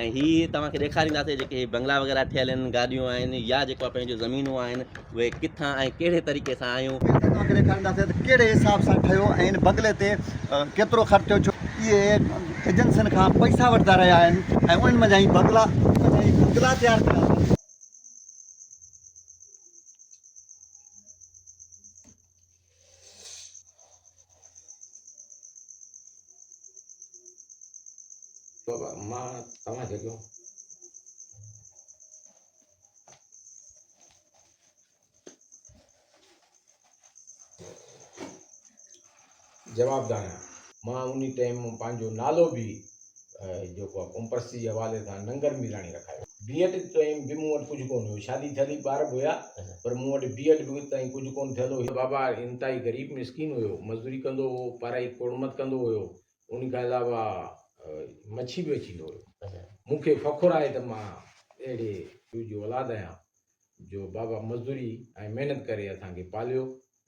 ۽ هي توهان کي ڏيکارينداسي جيڪي هي بنگلا وغيره ٺهيل آهن گاڏيون آهن يا جيڪو آهي پنهنجون زمينون آهن اهي ڪٿان ۽ ڪهڙي طريقي سان آيون. ۽ توهان کي ڏيکارينداسي ته ڪهڙي حساب سان ٺهيو ۽ هن بنگلي تي ڪيترو خرچ ٿيو ڇو اهي ايجنسين کان پئسا وٺندا رهيا آهن ۽ انهن منجهان ئي بنگلا بنگلا تيار ڪيا اٿن. بابا مان توهان جڳيو جوابدار آهيان مان انهي ٽيم پنهنجو نالو به جيڪو آ قوم پرستي جي حوالي سان ننگر ميراڻي رکايو. بي ايڊ تائين به مون وٽ ڪجهه ڪونه هيو. شادي ٿيل ئي ٻار به هيا پر مون وٽ بي ايڊ به تائين ڪجهه ڪونه ٿيل هيو. بابا انتهائي غريب مسڪين هيو. مزدوري ڪندو هو، پارائي کوڙمت ڪندو هيو. انهي کان علاوه مڇي به ويچيندو هيو. مون کي فخر آهي ته مان اهڙي پيء جو اولاد آهيان جو بابا مزدوري ۽ محنت ڪري اسان کي پاليو.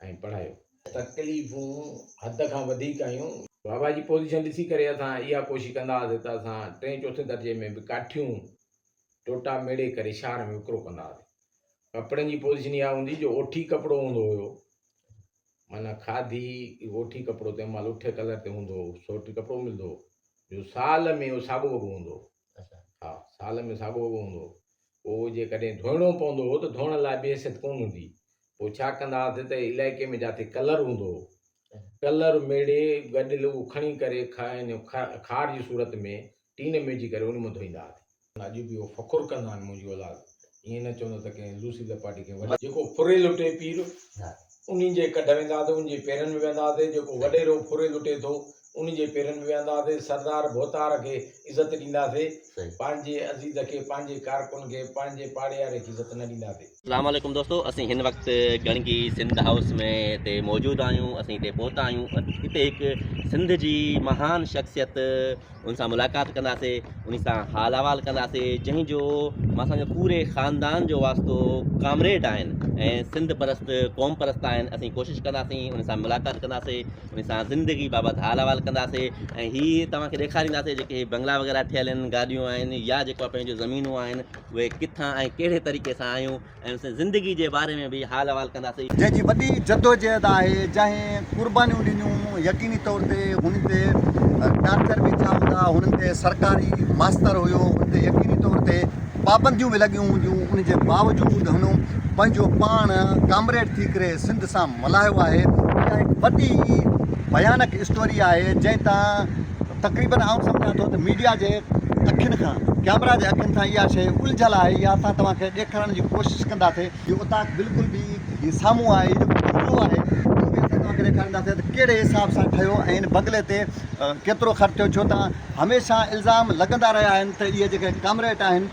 ۽ پڙهايو. تڪليفون حد کان وڌيڪ هيون. بابا جي پوزيشن ڏسي ڪري اسان اها ڪوشش ڪندا هئاسين ته اسان ٽئين چوٿين درجي ۾ به ڪاٺيون ٽوٽا ميڙي ڪري شهر ۾ وڪرو ڪندا هئاسين. ڪپڙن جي پوزيشن اها هوندي جو اوٺي ڪپڙو هوندو هيو معنيٰ کاڌي اوٺي ڪپڙو تنهن مهل اٺي ڪلر تي هوندو هو سوٽي ڪپڙو ملندو هو جو سال ۾ اهو ساڳو وڳو هوندو هو. ها سال ۾ ساڳو اهو هوندو هو. پوء جيڪڏهن ڌوئڻو پوندو هو ته ڌوئڻ لاء به حيثيت ڪونه هوندي هئي. پوء ڇا ڪندا هئاسين ته علائقي ۾ جاٿي ڪلر هوندو هو، ڪلر ميڙي گڏيل اهو کڻي ڪري خار جي صورت ۾ ٽين ۾ وجهي ڪري ان مان ڌوئيندا هئاسين. اڄ به اهو فخر ڪندا آهن منهنجي اولاد ائين نه چوندو ته ڪنهن لوسي لپاٽي کي وڍي. جيڪو ڦري لٽي پير، انهي جي ڪڍ ويندا هئاسي، انهي جي پيرن ۾ ويهندا هئاسي، جيڪو وڏيرو ڦري لٽي ٿو، انهي جي پيرن ۾ ويهندا هئاسي، سردار ڀوتار کي عزت ڏيندا سي، پنهنجي عزيز کي، پنهنجي ڪارڪن کي، پنهنجي پاڙياري کي عزت نه ڏيندا سي. اسلام عليڪم دوستو اسين هن وقت ڳڻگي سنڌ هائوس ۾ هتي موجود آهيون اسين هتي پهتا آهيون هتي هڪ سنڌ جي مهان شخصيت ان سان ملاقات ڪنداسي انهي سان حال احوال ڪنداسي جنهن جو ماسان جو پوري خاندان جو واسطو ڪامريڊ آهن ۽ سنڌ پرست قوم پرست آهن اسين ڪوشش ڪنداسي انهي سان ملاقات ڪنداسي انهي سان زندگي بابت حال احوال ڪنداسي ۽ هي توهان کي ڏيکارينداسي جيڪي هي بنگلا وغيره ٺهيل آهن گاڏيون آهن يا جيڪو پنهنجو زمينون آهن اهي ڪٿان ۽ ڪهڙي طريقي سان آيون ۽ سندس زندگي جي باري ۾ به حال احوال ڪنداسين. جنهن جي وڏي جدوجهد آهي، جنهن قربانيون ڏنيون، يقيني طور تي هن تي ٽارچر به ٿيا هوندا، هن تي سرڪاري ماستر هيو، هن تي يقيني طور تي پابنديون به لڳيون هونديون، ان جي باوجود هن پنهنجو پاڻ ڪامريڊ ٿي ڪري سنڌ سان ملهايو آهي، اها هڪ وڏي ڀيانڪ اسٽوري آهي، جنهن تان. تقريبن آئون سمجهان ٿو ته ميڊيا جي اکين کان، ڪئميرا جي اکين کان اها شيء الجهيل آهي يا اسان توهان کي ڏيکارڻ جي ڪوشش ڪنداسين. هي اوطاق بلڪل به هي سامهون آهي، هي جيڪو بنگلو آهي اهو به اسان توهان کي ڏيکارينداسين ته ڪهڙي حساب سان ٺهيو ۽ ان بنگلي تي ڪيترو خرچ ٿيو ڇو ته هميشه الزام لڳندا رهيا آهن ته اهي جيڪي ڪامريٽ آهن،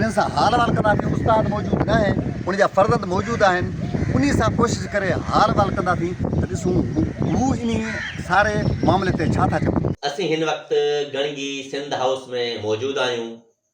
انهن سان حال احوال ڪنداسين استاد موجود نه آهن ان جا فرزند موجود آهن انهي سان ڪوشش ڪري حال احوال ڪنداسين ته ڏسون هو انهي ساري معاملي تي ڇا ٿا چون. اسين هن وقت گڻگي سنڌ هائوس ۾ موجود آهيون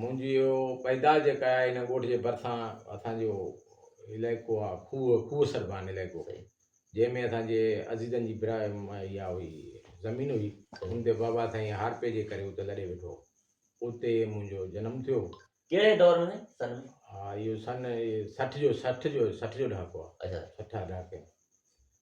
منهنجي اهو پيدائش جيڪا آهي ان ڳوٺ جي ڀرسان اسان جو علائقو آهي کوهه کوهه سربان علائقو جنهن ۾ اسان جي عزيزن جي برا اها هئي زمين هئي ان تي بابا سائين هارپي جي ڪري اتي لڏي ويٺو اتي منهنجو جنم ٿيو ڪهڙي دور ۾ سن ۾ ها اهو سن سٺ جو سٺ جو سٺ جو ڏهاڪو آهي اچا سٺ ڏهاڪي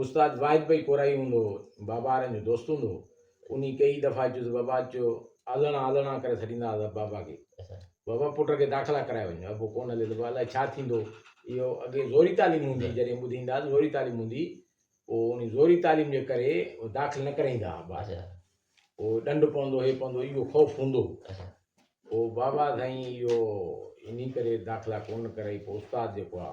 استاد واحد پئي ڪورائي هوندو هو، بابا وارن جو دوست هوندو هو، انهي ڪيئي دفعا اچيس، بابا اچو، آلڻا آلڻا ڪري سڏيندا هئا بابا کي، بابا پٽ کي داخلا ڪرائي وڃ، ابو ڪونه هلي ته پوء الائي ڇا ٿيندو، اهو اڳي زوري تعليم هوندي هئي، جڏهن ٻڌي ايندا ها ته زوري تعليم هوندي هئي، پوء انهي زوري تعليم جي ڪري داخل نه ڪرائيندا ها ٻار، پوء ڏنڊ پوندو هي پوندو اهو خوف هوندو هو، پوء بابا سائين اهو انهي ڪري داخلا ڪونه ڪرائي، پوء استاد جيڪو آ.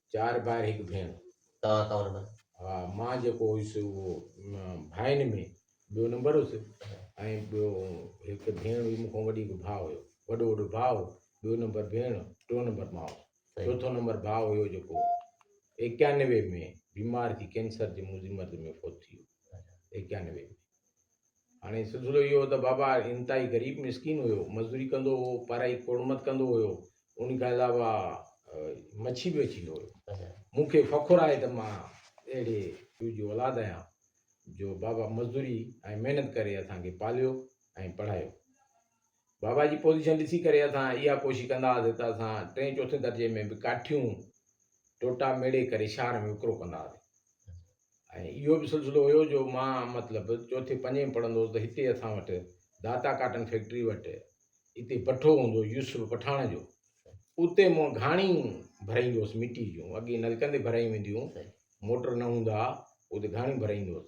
چار ڀائر هڪ ڀيڻ. توهان ڪئو نمبر؟ ها مان جيڪو هيس اهو ڀائين ۾ ٻيو نمبر هيس ۽ ٻيو هڪ ڀيڻ هئي مون کان وڏي هڪ ڀاء هيو وڏو وڏو ڀاء هو ٻيو نمبر ڀيڻ ٽيون نمبر مان هوس چوٿون نمبر ڀاء هيو جيڪو ايڪيانوي ۾ بيمار ٿي ڪينسر جي منهنجي مرض ۾ فوت ٿي ويو ايڪيانوي ۾ هاڻي سلسلو اهو هو ته بابا انتهائي غريب مسڪين هيو، مزدوري ڪندو هو، پارائي کوڙمت ڪندو هيو، انهي کان علاوه مڇي به وڇيندو هيو. مون کي فخر آهي ته مان اهڙي پيء جي اولاد آهيان جو بابا مزدوري ۽ محنت ڪري اسان کي پاليو ۽ پڙهايو. بابا جي پوزيشن ڏسي ڪري اسان اها ڪوشش ڪندا هئاسين ته اسان ٽئين چوٿين درجي ۾ به ڪاٺيون ٽوٽا ميڙي ڪري شهر ۾ وڪرو ڪندا هئاسين ۽ اهو به سلسلو هيو جو مان مطلب چوٿين پنجين ۾ پڙهندو هوس ته هتي اسان وٽ داتا ڪاٽن فيڪٽري وٽ هتي بٺو هوندو هو يوسف پٺاڻ جو اتي مون گهاڻي ڀرائيندو هوس مٽي جون اڳي نلڪن تي ڀرايون وينديون موٽر نه هوندا هئا اتي گهاڻي ڀرائيندو هوس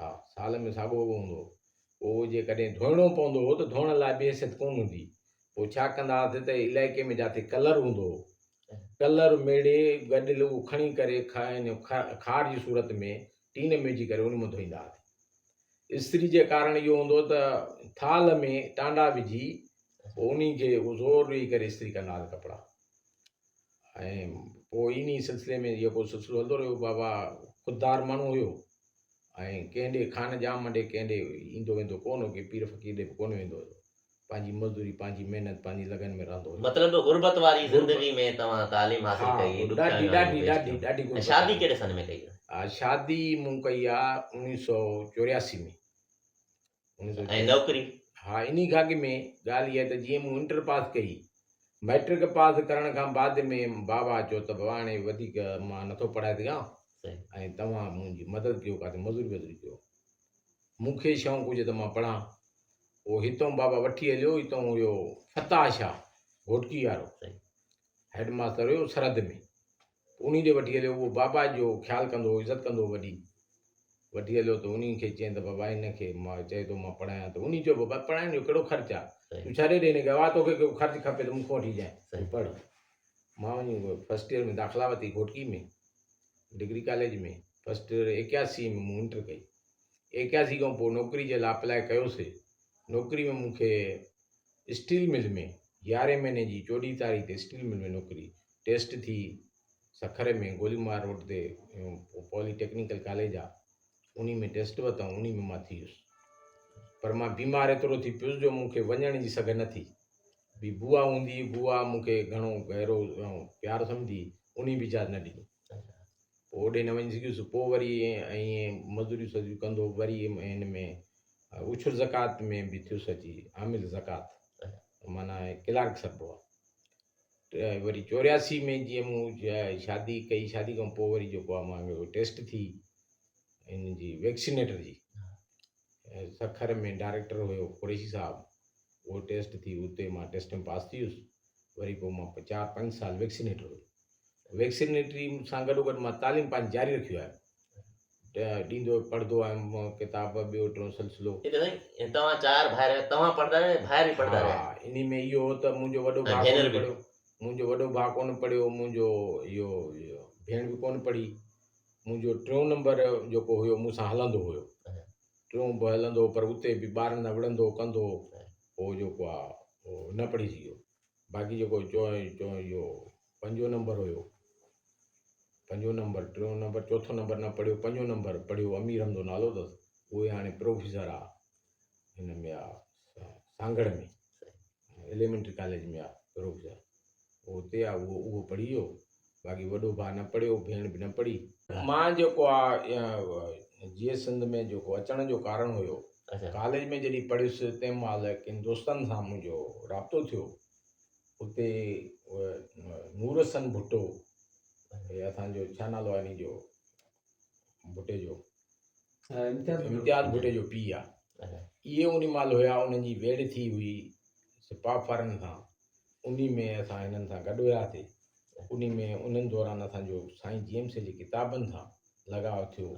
ها سال ۾ ساڳو اهو هوندو هو. پوء جي ڪڏهن ڌوئڻو پوندو هو ته ڌوئڻ لاء به حيثيت ڪونه هوندي هئي. پوء ڇا ڪندا هئاسين ته علائقي ۾ جاٿي ڪلر هوندو هو، ڪلر ميڙي گڏيل اهو کڻي ڪري کار جي صورت ۾ ٽين ۾ وجهي ڪري ان مان ڌوئيندا هئاسين. استري جي ڪارڻ اهو هوندو هو ته ٿالهه ۾ ٽانڊا وجهي پوء انهي کي زور ڏئي ڪري استري ڪندا هئاسين ڪپڙا. ۽ پوء انهيء سلسلي ۾ جيڪو سلسلو هلندو رهيو بابا خوددار ماڻهو هيو ۽ ڪنهن ڏي خان ڄام ڏي ڪنهن ڏي ايندو ويندو ڪونه هو ڪنهن پير فقير ڏي به ڪونه ويندو هيو پنهنجي مزدوري پنهنجي محنت پنهنجي لگن ۾ رهندو هيو. مطلب غربت واري زندگي ۾ توهان تعليم حاصل ڪئي ها ڏکيائيون ڏاڍي آيون ڏاڍي پيش ڏاڍي ڪيون ۽ غربت شادي آئي. ڪهڙي سن ۾ ڪئي هئي؟ ها شادي مون ڪئي آ اوڻيهه سؤ چورياسي ۾ ۽ نوڪري؟ ها انهي گهاگي ۾ ڳالهه اها ته جيئن مون انٽر پاس ڪئي، مئٽرڪ پاس ڪرڻ کان بعد ۾ بابا چيو ته بابا هاڻي وڌيڪ مان نٿو پڙهائي سگهان ۽ توهان منهنجي مدد ڪيو ڪاٿي مزوري وزوري ڪيو مون کي شوق هجي ته مان پڙهان پوء هتون بابا وٺي هليو هتون هيو فتاح شاهه گهوٽڪي وارو هيڊ ماستر هيو سرحد ۾ انهي ڏي وٺي هليو، اهو بابا جو خيال ڪندو هو، عزت ڪندو هو وڏي. وٺي هليو ته انهي کي چين ته بابا هن کي مان چئي ٿو مان پڙهايان ته انهي چيو بابا پڙهائڻ جو ڪهڙو خرچ آ؟ تون ڇڏي ڏي هن کي اوا توکي ڪو خرچ کپي ته مون کان وٺي جانء تون پڙهه. مان وڃي فرسٽ ايئر ۾ داخلا ورتي Ghotki ۾ degree college ۾ first year ايڪياسي ۾ مون انٽر ڪئي. ايڪياسي کان پوء نوڪري جي لاء اپلاء ڪيو سي. نوڪري ۾ مون کي اسٽيل مل ۾ يارهين مهيني جي چوڏهين تاريخ تي اسٽيل مل ۾ نوڪري ٽيسٽ ٿي سکر ۾ گوليمار روڊ تي پولي ٽيڪنيڪل ڪاليج آ انهي ۾ ٽيسٽ وتائون انهي ۾ مان ٿي ويس پر مان بيمار ايترو ٿي پيس جو مون کي وڃڻ جي سگهه نه ٿي بي بوا هوندي بوا مون کي گهڻو گهرو پيار سمجهي انهي به اجازت نه ڏني پو اوڏي نه وڃي سگهيس پو وري ائين مزوري سزوري ڪندو وري ان ۾ اوڇر زڪات ۾ به ٿيس اچي عامل زڪات معنی ڪلارڪ سبو وري چورياسي ۾ جيئن مون شادي ڪئي شادي کان پوء وري جيڪو آ مان جو ٽيسٽ ٿي ان جي ويڪسينيٽر جي سکر ۾ ڊائريڪٽر هيو قريشي صاحب اهو ٽيسٽ ٿي اتي مان ٽيسٽ ۾ پاس ٿي ويس وري پوء مان چار پنج سال ويڪسينيٽر هيو ويڪسينيٽري سان گڏو گڏ مان تعليم پنهنجي جاري رکيو آهي ڏيندو پڙهندو آهيان مان ڪتاب ٻيو ٽيون سلسلو. ٺيڪ آهي سائين توهان چار ڀائر آهيو توهان پڙهندا رهيا ڀائر به پڙهندا رهيا. ها انهي ۾ اهو هو ته منهنجو وڏو ڀاء ڪونه پڙهيو منهنجو وڏو ڀاء ڪونه پڙهيو منهنجو اهو ڀيڻ به ڪونه پڙهي منهنجو ٽيون نمبر جيڪو هيو مون سان هلندو هيو ٽيون به هلندو پر اتي به ٻارن سان وڙهندو ڪندو هو پوء جيڪو آهي نه پڙهي سگهيو. باقي جيڪو اهو پنجون نمبر هيو پنجون نمبر ٽيون نمبر چوٿون نمبر نه پڙهيو پنجون نمبر پڙهيو امير حمزو نالو اٿس اهو هاڻي پروفيسر آ هن ۾ آ سانگهڙ ۾ ايليمنٽري ڪاليج ۾ آ پروفيسر اهو اتي آ اهو پڙهي ويو باقي وڏو ڀاء نه پڙهيو، ڀيڻ به نه پڙهي. مان جيڪو آ جيئي سنڌ ۾ جيڪو اچڻ جو ڪارڻ هيو، ڪاليج ۾ جڏهن پڙهيس تنهن مهل ڪن دوستن سان منهنجو رابطو ٿيو. اتي نور حسن ڀٽو، اسان جو ڇا نالو آ انهي جو؟ ڀٽي جو امتياز ڀٽي جو پيء آ اهي ان مال هيا انهن جي ويڙهه ٿي هئي سپاهه فارن سان ان ۾ اسان هنن سان گڏ هياسي ان ۾ انهن دوران اسان جو سائين جي ايم سي جي ڪتابن سان لڳاء ٿيو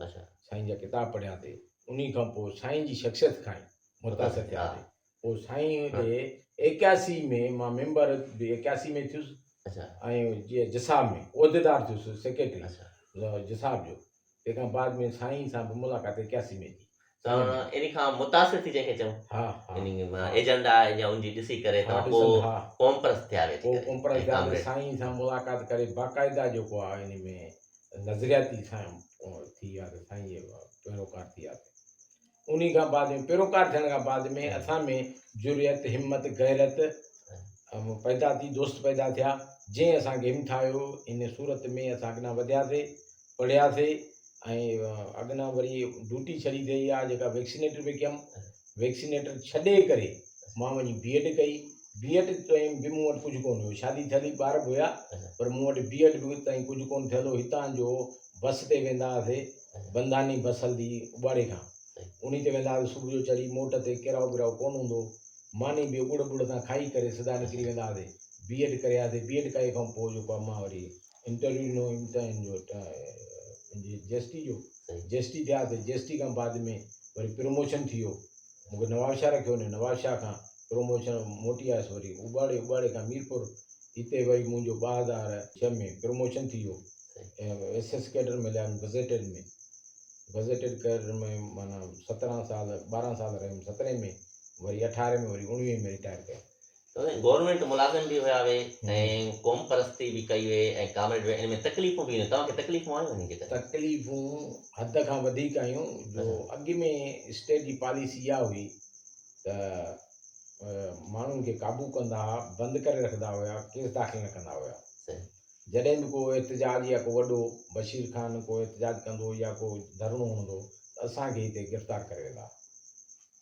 سائين جا ڪتاب پڙهياسي ان کان پوء سائين جي شخصيت کان متاثر ٿياسي پوء سائين هن کي ايڪياسي ۾ مان ميمبر به ايڪياسي ۾ ٿيس ۽ جي جساب ۾ عهديدار ٿيس سيڪريٽري جساب جو تنهن کان بعد ۾ سائين سان به ملاقات ايڪياسي ۾ ٿي ان کان متاثر ٿي جنهن کي چون ها ها ايجنڊا يا ان جي ڏسي ڪري ها ڏسن ها قوم پرست ٿيا ويا پوء قوم پرست ٿيا ته سائين سان ملاقات ڪري باقاعده جيڪو آ ان ۾ نظرياتي سائين ٿي ويا ته سائين جي پيروڪار ٿي ويا انهي کان بعد ۾ پيروڪار ٿيڻ کان بعد ۾ اسان ۾ جرئت همت غيرت پيدا ٿي دوست پيدا ٿيا جنهن اسانکي همٿايو ان صورت ۾ اسان اڳنا وڌياسي پڙهياسي ۽ اڳنا وري ڊوٽي ڇڏي ٿي اها جيڪا ويڪسينيٽر پي ڪيم ويڪسينيٽر ڇڏي ڪري مان وڃي بي ايڊ ڪئي بي ايڊ تائين به مون وٽ ڪجهه ڪون هيو شادي ٿيل ئي ٻار به هيا پر مون وٽ بي ايڊ به تائين ڪجهه ڪون ٿيل هو هتان جو بس تي ويندا هئاسي بنداني بس هلندي اٻاڙي کان انهي تي ويندا هئاسي صبح جو چڙهي موٽ تي ڪيرائو ٻيرائو ڪونه هوندو هو ماني به ڳڙ ٻڙ تان کائي ڪري سدا نڪري ويندا هئاسي بي ايڊ ڪري آياسي بي ايڊ ڪئي کان پوء جيڪو آهي مان وري انٽرويو ڏنو امتحان جو جي ايس ٽي جو جي ايس ٽي ٿياسي جي ايس ٽي کان بعد ۾ وري پروموشن ٿي ويو مون کي نوابشاهه رکيو وڃو، نوابشاهه کان پروموشن موٽي آيس وري اٻاڙي، اٻاڙي کان ميرپور، هتي وري منهنجو ٻه هزار ڇهه ۾ پروموشن ٿي ويو ۽ ايس ايس ڪيڊر ۾ ليام گزيٽيڊ ۾ گزيٽيڊ ڪيڊر ۾ معنيٰ سترهن سال ٻارهن سال رهيم سترهين ۾ وري اٺارهين ۾ وري اوڻويهين ۾ رٽائر ڪيم. گورنمينٽ ملازم به هيا وي ۽ قوم پرستي به ڪئي وي ۽ ڪامريڊ وي ان ۾ تڪليفون به توهان کي تڪليفون آيون انهن جي ڪري تڪليفون حد کان وڌيڪ آيون جو اڳ ۾ اسٽيٽ جي پاليسي اها هئي ته ماڻهن کي قابو ڪندا ها بند ڪري رکندا هيا ڪيس داخل نه ڪندا هيا جڏهن به ڪو احتجاج يا ڪو وڏو بشير خان ڪو احتجاج ڪندو يا ڪو ڌرڻو هڻندو ته اسان کي هتي گرفتار ڪري ويندا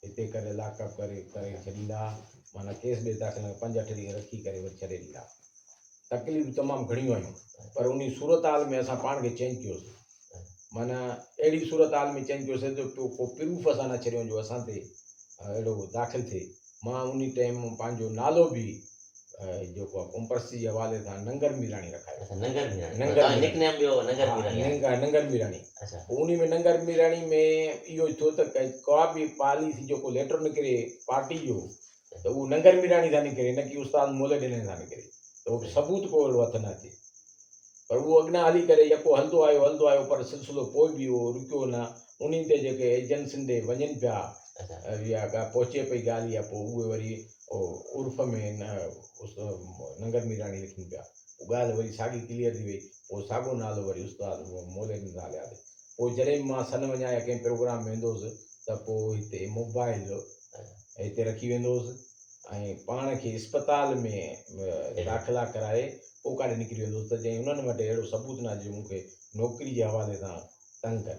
هتي ڪڏهن لاڪ اپ ڪري ڪري ڇڏيندا ها معنيٰ ڪيس ڏي داخل ڪري پنج اٺ ڏينهن رکي ڪري وري ڇڏي ڏيندا ها تڪليفون تمام گهڻيون آيون پر انهي صورتحال ۾ اسان پاڻ کي چينج ڪيو سي معنيٰ اهڙي صورتحال ۾ چينج ڪيو سي جو ڪو پروف اسان نه ڇڏيون جو اسان تي اهڙو داخل ٿئي مان انهي ٽيم پنهنجو نالو به جيڪو آهي ڪمپرسي جي حوالي سان ننگر ميراڻي رکايو اچا ننگر ميراڻي ننگر ميراڻي. نڪ نيم ٻيو ننگر ميراڻي آهي. ننگر ننگر ميراڻي اچا پوء ان ۾ ننگر ميراڻي ۾ اهو ٿيو ته ڪا ڪا به پاليسي جيڪو ليٽر نڪري پارٽي جو ته اهو ننگر ميراڻي سان نڪري نه ڪي استاد مولي ڏنن سان نڪري ته اهو ثبوت ڪو اهڙو هٿ نه اچي پر اهو اڳيان هلي ڪري يڪو هلندو آيو هلندو آيو پر سلسلو پوء به اهو رڪيو نه انهي تي جيڪي ايجنسين ڏي وڃن پيا اچا اها ڳالهه پهچي پئي ڳالهه اها پوء اهي وري عرف ۾ ننگر ميراڻي لکين پيا. پوء ڳالهه وري ساڳي ڪليئر ٿي وئي. پوء ساڳيو نالو وري استاد مولين زاليادي. پوء جڏهن به مان سن وڃان يا ڪنهن پروگرام ۾ ويندو هوس ته پوء هتي موبائيل هتي رکي ويندو هوس ۽ پاڻ کي اسپتال ۾ داخلا ڪرائي پوء ڪاڏي نڪري ويندو هوس ته جئين انهن وٽ اهڙو ثبوت نه آهي جو مون کي نوڪري جي حوالي سان تنگ ڪن.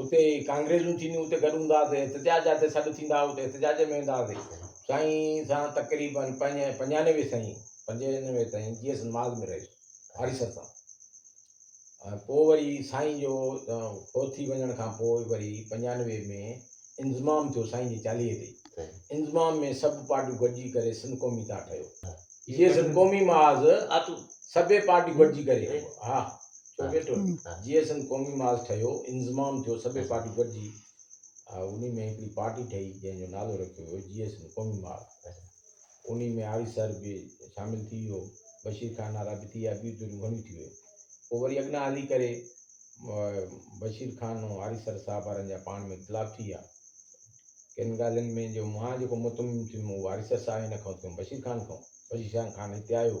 اتي ڪانگريزون ٿينديون اتي گڏ هوندا هئاسين، احتجاج جاتي سڏ ٿيندا هئا اتي احتجاج ۾ ويندا هئاسين. سائين سان تقريباً پنج پنجانوي سائين پنجانوي تائين جي ايس نماز ۾ رهيس آريسر تان ۽ پوء وري سائين جو فوت ٿي وڃڻ کان پوء وري پنجانوي ۾ انضمام ٿيو سائين جي چاليهي تي انضمام ۾ سڀ پارٽيون گڏجي ڪري سنڌ قومي تان ٺهيو جي سنڌ قومي محاذ سڀ پارٽيون گڏجي ڪري ها چوڏهن ٽولي جي ايس ايم قومي محاذ ٺهيو انضمام ٿيو سڀئي پارٽيون گڏجي انهي ۾ هڪڙي پارٽي ٺهي جنهن جو نالو رکيو ويو جي ايس ايم قومي محاذ انهي ۾ آري سر به شامل ٿي ويو بشير خان آرا به ٿي ويا ٻيون ڌريون گهڻيون ٿي ويون پوء وري اڳنا هلي ڪري بشير خان ۽ آري سر صاحب وارن جا پاڻ ۾ اختلاف ٿي ويا ڪن ڳالهين ۾ جو مان جيڪو مطمئن ٿيم اهو آري سر صاحب هن کان ٿيم بشير خان کان بشير خان هتي آيو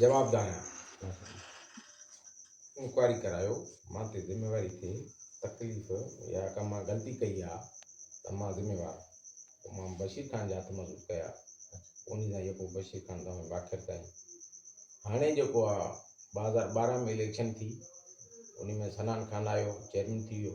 جواب دانه انڪوائري ڪرايو مان تي ذميواري ٿئي تڪليف يا ڪا مان غلطي ڪئي آ ته مان ذميوار پوء مان بشير خان جا هٿ مضبوط ڪيا انهي سان يڪو بشير خان تمام واخر تائين هاڻي جيڪو آ ٻه هزار ٻارهن ۾ اليڪشن ٿي انهي ۾ سنان خان آيو چيئرمين ٿي ويو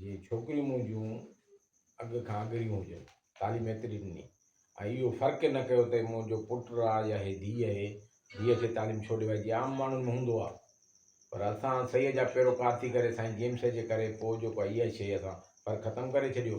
جي ڇوڪريون منهنجون اڳ کان اڳريون هجن، تعليم ايتري ڏني ۽ اهو فرق نه ڪيو ته منهنجو پٽ آ يا هي ڌيء اهي، ڌيء کي تعليم ڇو ڏيوائي جيئن عام ماڻهن ۾ هوندو آ. پر اسان سيء جا پيروڪار ٿي ڪري سائين جيمس جي ڪري پوء جيڪو آ اها شيء اسان فرق ختم ڪري ڇڏيو.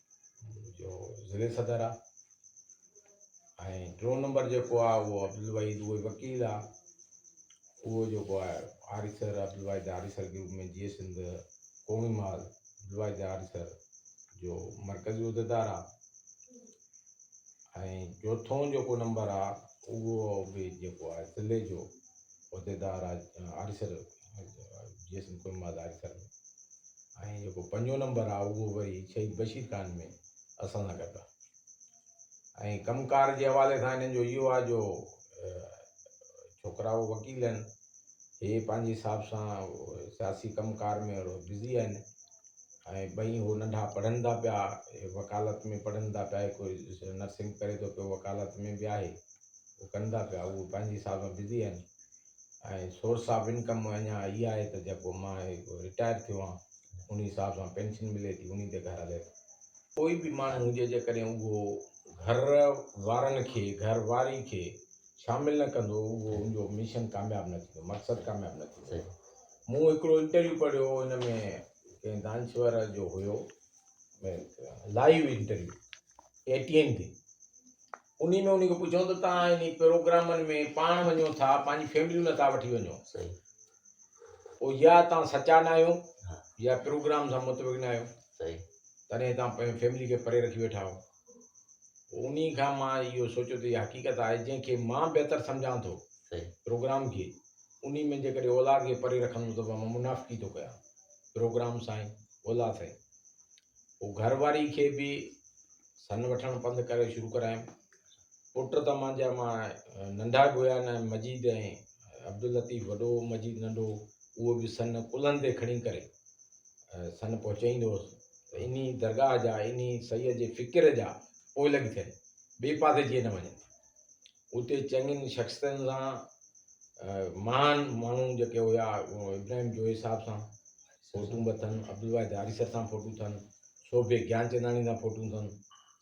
جو ضلعي صدر آ ۽ ٽيون نمبر جيڪو آ اهو عبدالوحيد اهو وڪيل آ اهو جيڪو آ آريسر عبدالوحيد آريسر گروپ ۾ جيئي سنڌ قومي مال عبدالوحيد آريسر جو مرڪزي عهديدار آ ۽ چوٿون جيڪو نمبر آ اهو به جيڪو آ ضلعي جو عهديدار آ آريسر جيسين ڪن مان ظاهر ٿيڻ ۾ ۽ جيڪو پنجون نمبر آ اهو وري شهيد بشير خان ۾ اسان سان گڏ آ ۽ ڪم ڪار جي حوالي سان هنن جو اهو آ جو ڇوڪرا اهو وڪيل آهن هي پنهنجي حساب سان سياسي ڪم ڪار ۾ بزي آهن ۽ ٻئي هو ننڍا پڙهن ٿا پيا وڪالت ۾ پڙهن ٿا پيا هڪ نرسنگ ڪري ٿو پيو وڪالت ۾ به آهي هو ڪن ٿا پيا اهو پنهنجي حساب سان بزي آهن ۽ سورس آف انڪم اڃا اھي آھي ته جيڪو مان رٽائر ٿيو آھيان انھي حساب سان پينشن ملي ٿي انھي تي گھر ھلي ٿو. ڪوئي به ماڻھو ھجي جيڪڏھن اھو گھر وارن کي گھر واري کي شامل نه ڪندو اھو ان جو مشن ڪامياب نه ٿيندو مقصد ڪامياب نه ٿيندو مون ھڪڙو انٽرويو پڙھيو ھو ان ۾ ڪنھن دانشور جو ھيو live interview A T N تي انهي ۾ انهي کي پڇيون ته توهان انهي پروگرامن ۾ پاڻ وڃو ٿا پنهنجي فيمليون نه ٿا وٺي وڃو پوء يا توهان سچا نه آهيو يا پروگرام سان متفق نه آهيو تڏهن توهان پنهنجي فيملي کي پري رکي ويٺا آهيو پوء انهي کان مان اهو سوچيو ته اها حقيقت آهي جنهن کي مان بهتر سمجهان ٿو پروگرام کي انهي ۾ جيڪڏهن اولاد کي پري رکندو ته مان منافقي ٿو ڪيان پروگرام سائين اولاد سائين هو گهر واري کي به سن وٺڻ پند ڪري شروع ڪرايم. پٽ ته مانجا مان ننڍا به هيا نه مجيد ۽ عبداللطيف وڏو مجيد ننڍو اهو به سن ڪلهن تي کڻي ڪري سن پهچائيندو هوس ته انهي درگاهه جا انهي سئيء جي فڪر جا پوئلڳ ٿين ٻئي پاسي جيئن نه وڃن. اتي چڱين شخصيتن سان مهان ماڻهو جيڪي هيا ابراهيم جويي صاحب سان فوٽون به اٿن عبدالواحد آريسر سان فوٽو ٿن سوڀي گيانچنداڻي سان فوٽون ٿن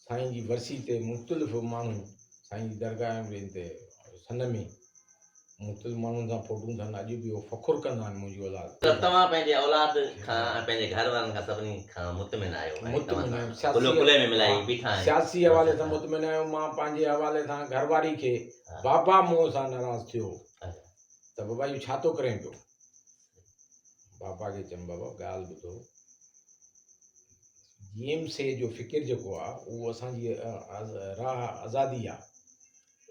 سائين جي ورسي تي مختلف ماڻهو سائين جي درگاهه ۽ تي سن ۾ مختلف ماڻهن سان فوٽون ٿن اڄ به اهو فخر ڪندا آهن منهنجي اولاد ته توهان پنهنجي اولاد کان ۽ پنهنجي گهر وارن کان سڀني کان مطمئن آهيو ۽ مطمئن توهان آهيان سان ڪلهو سياسي ڪلهي ۾ ملائي ها بيٺا آهيو سياسي حوالي سان اچا مطمئن آهيو مان پنهنجي حوالي سان گهر واري کي ها بابا مون سان ناراض ٿيو اچا ته بابا اهو ڇا ٿو ڪرين پيو بابا کي چيم بابا ڳالهه ٻڌو جي ايم سي جو فڪر جيڪو آ اهو اسان جي راهه آزادي آ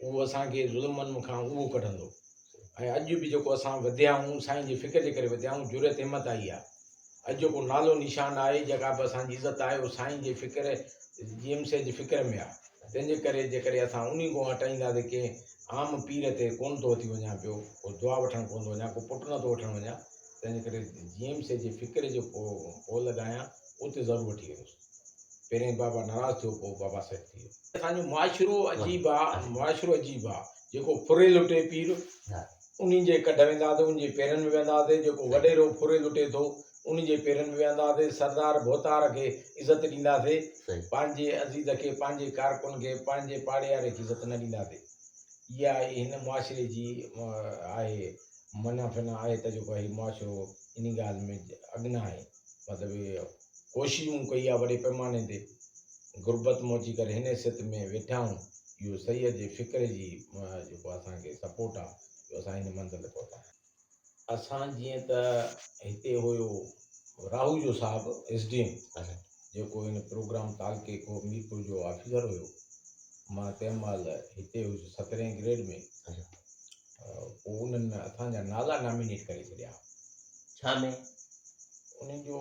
اهو اسان کي ظلمن کان اهو ڪڍندو ۽ اڄ به جيڪو اسان وڌيا آهيون سائين جي فڪر جي ڪري وڌيا آهيون جرئت همت آئي آ اڄ جيڪو نالو نشان آهي جيڪا به اسان جي عزت آهي اهو سائين جي فڪر جي ايم سي جي فڪر ۾ آ تنهن جي ڪري جيڪڏهن اسان انهي ڳوهه هٽائينداسين ڪنهن عام پير تي ڪونه ٿو اٿي وڃان پيو، ڪو دعا وٺڻ ڪونه ٿو وڃان، ڪو پٽ نه ٿو وٺڻ وڃان، تنهن جي ڪري جي ايم سي جي فڪري جو پولهه ڏانهن اتي ضرور وٺي ويندس. پهرين بابا ناراض ٿيو پوء بابا سيٽ ٿي ويو. اسان جو معاشرو عجيب آ، معاشرو عجيب آ، جيڪو ڦري لٽي پير. انهن جي ڪڍ ويندا ٿي، انهن جي پيرن ۾ ويهندا ٿي، جيڪو وڏيرو ڦري لٽي ٿو، انهن جي پيرن ۾ ويهندا ٿي، سردار ڀوتار کي عزت ڏيندا ٿي، پنهنجي عزيز کي، پنهنجي ڪارڪن کي، پنهنجي پاڙياري کي عزت نه ڏيندا ٿي. اها ئي هن معاشري جي آهي معنيٰ فعنيٰ آهي ته جيڪو هي معاشرو انهي ڳالهه ۾ اڳ نه آهي. مطلب اهو. ڪوشش مون ڪئي آ وڏي پئماني تي غربت مون اچي ڪري هن حيثيت ۾ ويٺا آهيون اهو سيد جي فڪر جي جيڪو اسان کي سپورٽ آ جو اسان هن منزل تي پهتا آهيون. اسان جيئن ته هتي هيو راهوجو صاحب ايس ڊي ايم جيڪو هن پروگرام تعلقي کي ميرپور جو آفيسر هيو مان تنهن مهل هتي هيس سترهين گريڊ ۾ پوء انهن اسان جا نالا نامينيٽ ڪري ڇڏيا. ڇا ۾؟ انهن جو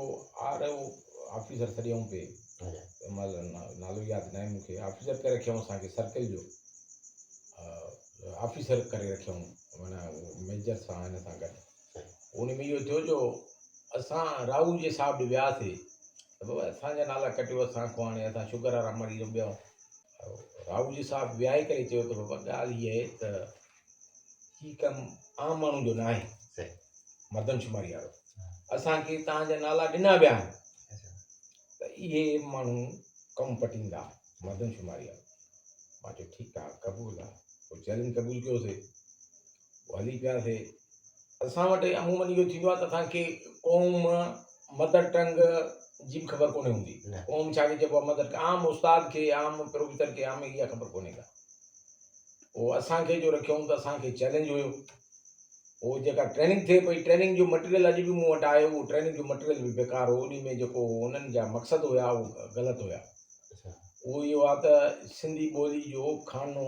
آر او آفيسر سڏيائون پئي. تنهن مهل نالو ياد ناهي مون کي. آفيسر ڪري رکيائون اسان کي سرڪل جو. آفيسر ڪري رکيائون معنيٰ ميجر سان هن سان گڏ. ان ۾ اهو ٿيو جو اسان راهو جي صاحب ڏي وياسي ته بابا اسان جا نالا ڪٽيو اسان کان هاڻي اسان شگر وارا مري رهيون ٻيا راهوجي صاحب ويهائي ڪري چيو ته بابا ڳالهه هيء آهي ته هي ڪم عام ماڻهو جو ناهي مردم شماري وارو اسانکي تان جا نالا ڏنا ويا آهن ته اهي ماڻهو ڪم پٽيندا مردم شماري وارو مان چيو ٺيڪ آهي قبول آهي پوء چئلينج قبول ڪيوسي هلي پياسي. اسان وٽ عمومن اهو ٿيندو آهي ته اسان کي قوم، مدر ٽنگ، جي به خبر ڪونهي هوندي. قوم ڇا کي چئبو آهي مدر ٽنگ عام استاد کي عام پروفيسر کي عام اها خبر ڪونهي ڪا. پوء اسان کي جو رکيائون ته اسان کي چئلينج هيو. پوء جيڪا ٽريننگ ٿئي پئي ٽريننگ جو مٽيريل اڄ به مون وٽ آهي اهو ٽريننگ جو مٽيريل به بيڪار هو انهي ۾ جيڪو انهن جا مقصد هيا اهو غلط هيا. اهو اهو آهي ته سنڌي ٻولي جو خانو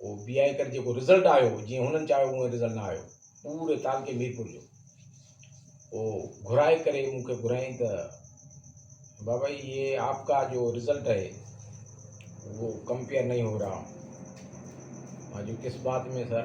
او بي آء ڪري جيڪو رزلٽ آيو جيئن هنن چاهيو اونئن رزلٽ نه آيو پوري تعلقي ميرپور جو او گهرائي ڪري مون کي گهرايائين ته بابا جي هي آپ ڪا جو رزلٽ هي اهو ڪمپيئر نهي هو رها مان چيو ڪس بات ۾ سر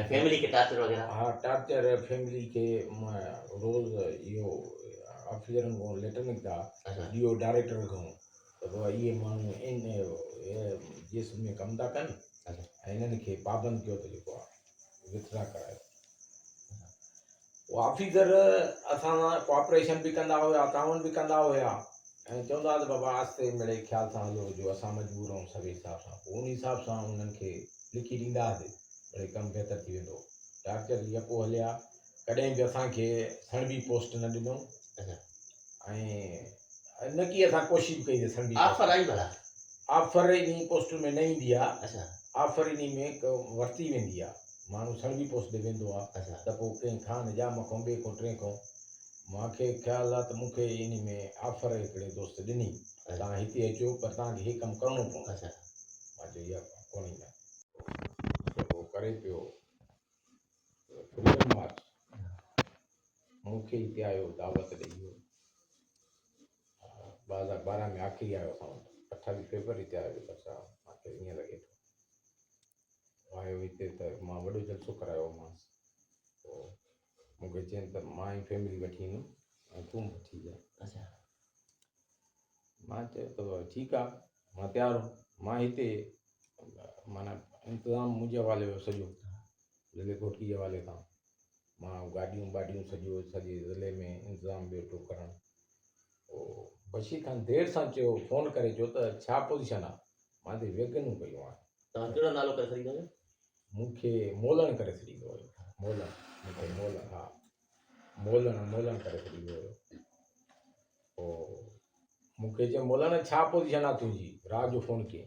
۽ فيملي کي ٽارچر وغيره. ها ٽارچر فيملي کي روز اهو آفيسرن کان ليٽر نڪتا ڊي او ڊائريڪٽر کان ته بابا اهي ماڻهو ان جسم ۾ ڪم ٿا ڪن ۽ انهن کي پابند ڪيو ته جيڪو آهي وٿ ڊرا ڪرايو آفيسر اسان سان ڪوآپريشن به ڪندا هيا تعاون به ڪندا هيا ۽ چوندا هئا ته بابا آهستي مڙئي خيال سان هلو جو اسان مجبور آهيون سڀ حساب سان پوء ان حساب سان انهن کي لکي ڏيندا هئاسي مڙئي ڪم بهتر ٿي ويندو هو ٽارچر جي اپو هليا ڪڏهن به اسان کي سڻڀي پوسٽ نه ڏنو ۽ نه ڪي اسان ڪوشش به ڪئي ته سڻڀي آفر آئي ڀلا آفر انهي پوسٽن ۾ نه ايندي آهي آفر انهي ۾ ورتي ويندي آهي ماڻهو سڻڀي پوسيدي ويندو آ ته پوء ڪنهن خان حجام کان ٻئي کان ٽئين کان مان کي خيال آ ته مون کي انهي ۾ آفر هڪڙي دوست ڏني ته توهان هتي اچو پر توهان کي هي ڪم ڪرڻو پوندو مان چيو اها ڪونه ايندم سو هو ڪري پيو ته فريڊم مارچ مون کي هتي آيو دعوت ڏئي ويو ٻه هزار ٻارهن ۾ آخري آيو اسان وٽ اٺاويهه فيبروري تي آيو ڏکر صاحب مان کي ائين لڳي ٿو آيو هتي ته مان وڏو جلسو ڪرايو هومانس. پوء مون کي چين ته مان ئي فيملي وٺي ايندم ۽ تون به وٺي جا. اچا. مان چيو ته ٺيڪ آ مان تيار هوم. مان هتي معنيٰ انتظام منهنجي حوالي هو سڄو. ضلعي گهوٽڪي جي حوالي کان. مان گاڏيون ٻاڏيون سڄو سڄي ضلعي ۾ انتظام ٻيٺو ڪرڻ او بشير خان دير سان چيو فون ڪري چيو ته ڇا پوزيشن آ مان تي ويگنون ڪيون آهن توهان ڪهڙو نالو ڪري سڏيندا آهيو مون کي مولڻ ڪري سڏيندو هيو مولڻ مون کي مولڻ ها مولڻ مولڻ ڪري سڏيندو هيو او مون کي چيو مولڻ ڇا پوزيشن آ تنهنجي رات جو فون ڪيئي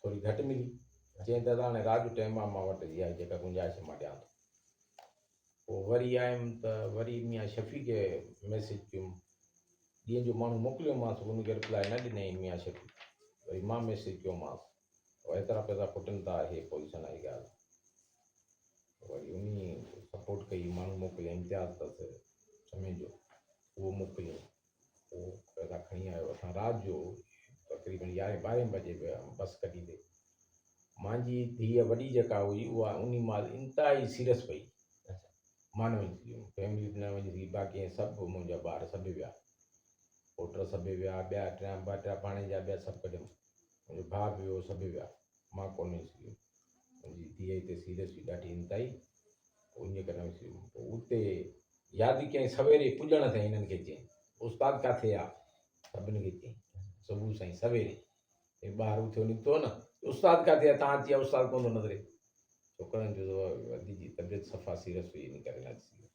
ٿوري گهٽ ملي. چيائين دادا هاڻي رات جو ٽئين مان مان وٽ اها جيڪا گنجائش مان ڏيان ٿو. پوء وري آيم ته وري ميان شفيع کي ميسيج ڪيم. ڏينهن جو ماڻهو موڪليومانس ان کي رپلائي نه ڏنائين ميان شفيع. وري مان ميسيج ڪيومانس ته ايترا پئسا کٽن ٿا اهي پوزيشن آهي ڳالهه. وري انهي سپورٽ ڪئي ماڻهو موڪليا امتياز اٿس سمي جو اهو موڪليائين. اهو پيدا کڻي آيو. اسان رات جو تقريبن يارهين ٻارهين بجي به بس ڪڍيندي مانجي ڌيء وڏي جيڪا هئي اها انهي مال انتهائي سيريس پئي مان نه وڃي سگهيم فيملي نه وڃي سگهي باقي ۽ سڀ منهنجا ٻار سڀ ويا پوٽر سڀ ويا ٻيا ٽيا ٻه ٽيا پاڻي جا ٻيا سڀ ڪڍيم منهنجو ڀاء به ويو سڀ ويا مان ڪونهي سگهيو. منهنجي ڌيء هتي سيريس هئي، ڏاڍي انتهائي. پوء انهيء ڪري نه سگهيو. پوء اتي ياد ڪيائين. سويري پڄڻ تي هنن کي چيائين، استاد ڪاٿي آ؟ سڀني کي چيائين، صبح سائين سويري. هي ٻاهر اٿيو نڪتو نه ته استاد ڪاٿي آ؟ تان اچي آ، استاد ڪونه ٿو نظري. ڇوڪرن جو ادي جي طبيعت صفا سيريس هئي، ان ڪري نه اچي سگهيو.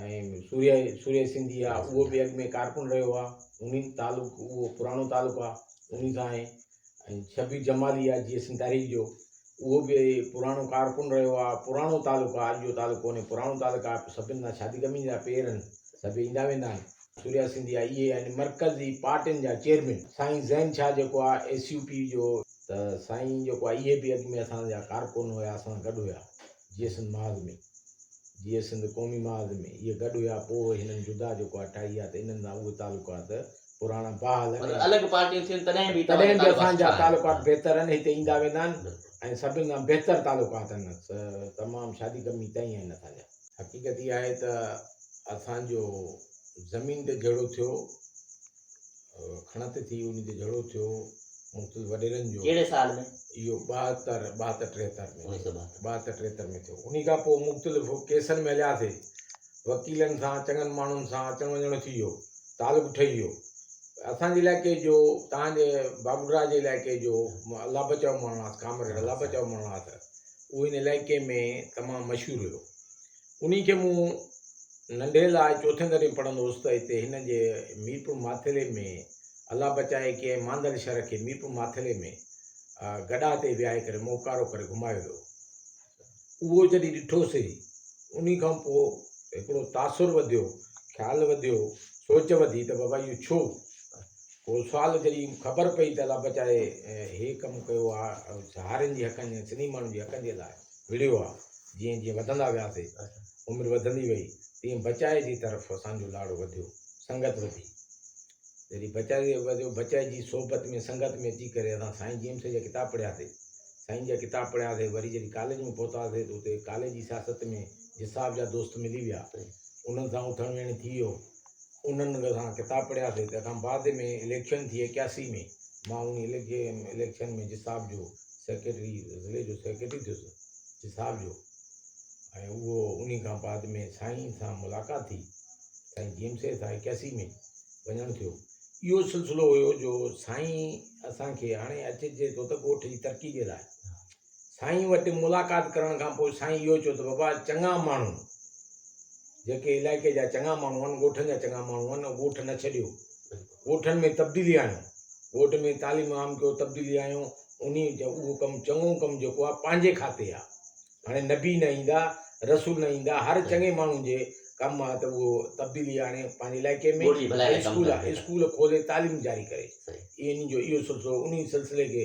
۽ سوريا سوريا سنڌي آ اهو به اڳ ۾ ڪارڪن رهيو آ انهي تعلق اهو پراڻو تعلق آ انهي سان آهي ۽ شبير جمالي آ جي سين تحريڪ جو اهو به پراڻو ڪارڪن رهيو آ پراڻو تعلق آ اڄ جو تعلق ڪونهي پراڻو تعلق آ سڀن سان شادي غمي جا پير آهن سڀ ايندا ويندا آهن سوريا سنڌي آ اهي آهن مرڪزي پارٽين جا چيئرمين سائين زين شاهه جيڪو آ ايس يو پي جو ته سائين جيڪو آ اهي به اڳ ۾ اسان جا ڪارڪن هيا اسان سان گڏ هيا جي سنڌ محاذ ۾، جي سنڌ قومي محاذ ۾، اهي گڏ هيا، پوء هنن جدا جيڪو آهي ٺاهي آهي ته انهن سان اهي تعلقات پراڻا بحال آهن ۽ الڳ پارٽيون ٿين تڏهن به تڏهن به اسان جا تعلقات بهتر آهن، هتي ايندا ويندا آهن ۽ سڀن سان بهتر تعلقات آهن، تمام شادي غمي تئين آهن اسان جا. حقيقت اها آهي ته اسان جو زمين تي جهيڙو ٿيو کڻت ٿي، انهي تي جهيڙو ٿيو مختلف وڏيرن جو. ڪهڙي سال ۾؟ اهو ٻاهتر، ٻاهتر ٽيهتر ۾. انيس سو ٻاهتر. ٻاهتر ٽيهتر ۾ ٿيو. انهي کان پوء مختلف ڪيسن ۾ هلياسي. وڪيلن سان، چڱن ماڻهن سان اچڻ وڃڻ ٿي ويو. تعلق ٺهي ويو. اسان جي علائقي جو، توهان جي باگڊوهرا جي علائقي جو الله بچاء مهاڻاس، ڪامريڊ الله بچاء مهاڻاس، اهو هن علائقي ۾ تمام مشهور هيو. انهي کي مون ننڍي لاء چوٿين درجي ۾ پڙهندو هوس ته هتي هن جي ميرپور ماٿيلي ۾ الله بچائي ڪنهن ماندل شھر کي ميرپور ماٿيلي ۾ گڏاھ تي ويھاري ڪري موڪارو ڪري گھمايو ويو. اهو جڏهن ڏٺوسي انهي کان پوء هڪڙو تاثر وڌيو، خيال وڌيو، سوچ وڌي ته بابا اهو ڇو؟ پوء سوال جڏهن خبر پئي ته الله بچائي هي ڪم ڪيو آ سهارين جي حقن جي سنڌي ماڻهن جي حقن جي لاء. وڙهيو ها. جيئن جيئن وڌندا وياسي، عمر وڌندي وئي، تيئن بچائي جي طرف اسان جو لاڙو وڌيو، سنگت وڌي. جڏهن بچائي وڌيو، بچائي جي صحبت ۾ سنگت ۾ اچي ڪري اسان سائين جيئم سائين جا ڪتاب پڙهياسي. سائين جا ڪتاب پڙهياسي، وري جڏهن ڪاليج ۾ پهتاسي ته اتي ڪاليج جي سياست ۾ جساب جا دوست ملي ويا، انهن سان اٿڻ ويهڻ ٿي ويو، انهن مون کان ڪتاب پڙهيا سي تنهن کان بعد ۾ اليڪشن ٿي ايڪياسي ۾ مان ان اليڪشن ۾ جساب جو سيڪريٽري ضلعي جو سيڪريٽري ٿيس جساب جو ۽ اهو انهي کان بعد ۾ سائين سان ملاقات ٿي سائين جي ايم سي سان ايڪياسي ۾ وڃڻ ٿيو اهو سلسلو هيو جو سائين اسان کي هاڻي اچ جي تو ته ڳوٺ جي ترقي جي لاء سائين وٽ ملاقات ڪرڻ کان پوء سائين اهو چيو ته بابا چڱا ماڻهو جيڪي علائقي جا چڱا ماڻهو آهن، ڳوٺن جا چڱا ماڻهو آهن، اهي ڳوٺ نه ڇڏيو، ڳوٺن ۾ تبديلي آڻيو، ڳوٺ ۾ تعليم عام ڪيو، تبديلي آڻيو، انهي اهو ڪم چڱو ڪم جيڪو آهي پنهنجي کاتي آهي، هاڻي نبي نه ايندا، رسول نه ايندا، هر چڱي ماڻهو جي ڪم آهي ته اهو تبديلي آڻي پنهنجي علائقي ۾ ۽ اسڪول کولي تعليم جاري ڪري، انهي جو اهو سلسلو انهي سلسلي کي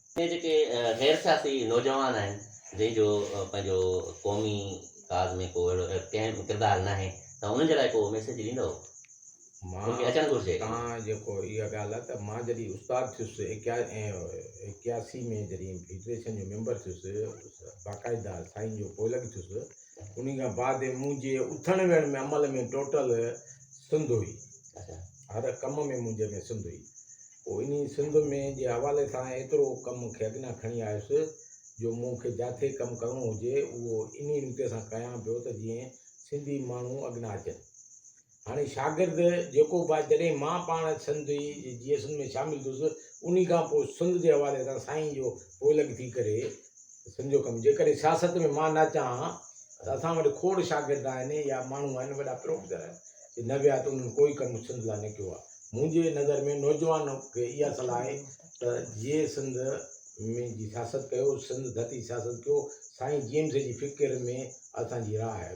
اهي جيڪي غير سياسي نوجوان آهن، جن جو پنهنجو قومي ڪاز ۾ ڪو اهڙو ڪنهن به ڪردار ناهي ته انهن جي لاء ڪو ميسيج ڏيندؤ؟ مان کي اچڻ گهرجي. تان جيڪو اها ڳالهه آهي ته مان جڏهن استاد ٿيس ايڪياسي ۾ جڏهن فيڊريشن جو ميمبر ٿيس باقاعده سائين جو پوئلڳ ٿيس انهي کان بعد منهنجي اٿڻ ويهڻ ۾ عمل ۾ ٽوٽل سنڌ هئي هر ڪم ۾ منهنجي ۾ سنڌ هئي پوء انهيء سنڌ ۾ جي حوالي سان ايترو ڪم مون کي اڳنا کڻي آيس، جو مون کي جاٿي ڪم ڪرڻو هجي، اهو انهيء نوتي سان ڪيان پيو ته جيئن سنڌي ماڻهو اڳنا اچن. هاڻي شاگرد جيڪو به آهي، جڏهن مان پاڻ سنڌي جي جي ايس اين ۾ شامل ٿيس، انهيء کان پوء سنڌ جي حوالي سان سائين جو پوئلڳ ٿي ڪري، سنڌ جو ڪم جيڪڏهن سياست ۾ مان نه اچان ها ته اسان وٽ کوڙ شاگرد آهن يا ماڻهو آهن وڏا پروفيسر آهن جي نه ويا ته انهن ڪوئي ڪم سنڌ لاء نه ڪيو آهي منهنجي نظر ۾ نوجوان کي اها صلاح آهي ته جي سنڌ ۾ جي سياست ڪيو سنڌ ڌتي سياست ڪيو سائين جيمس جي فڪر ۾ اسان جي راء آهي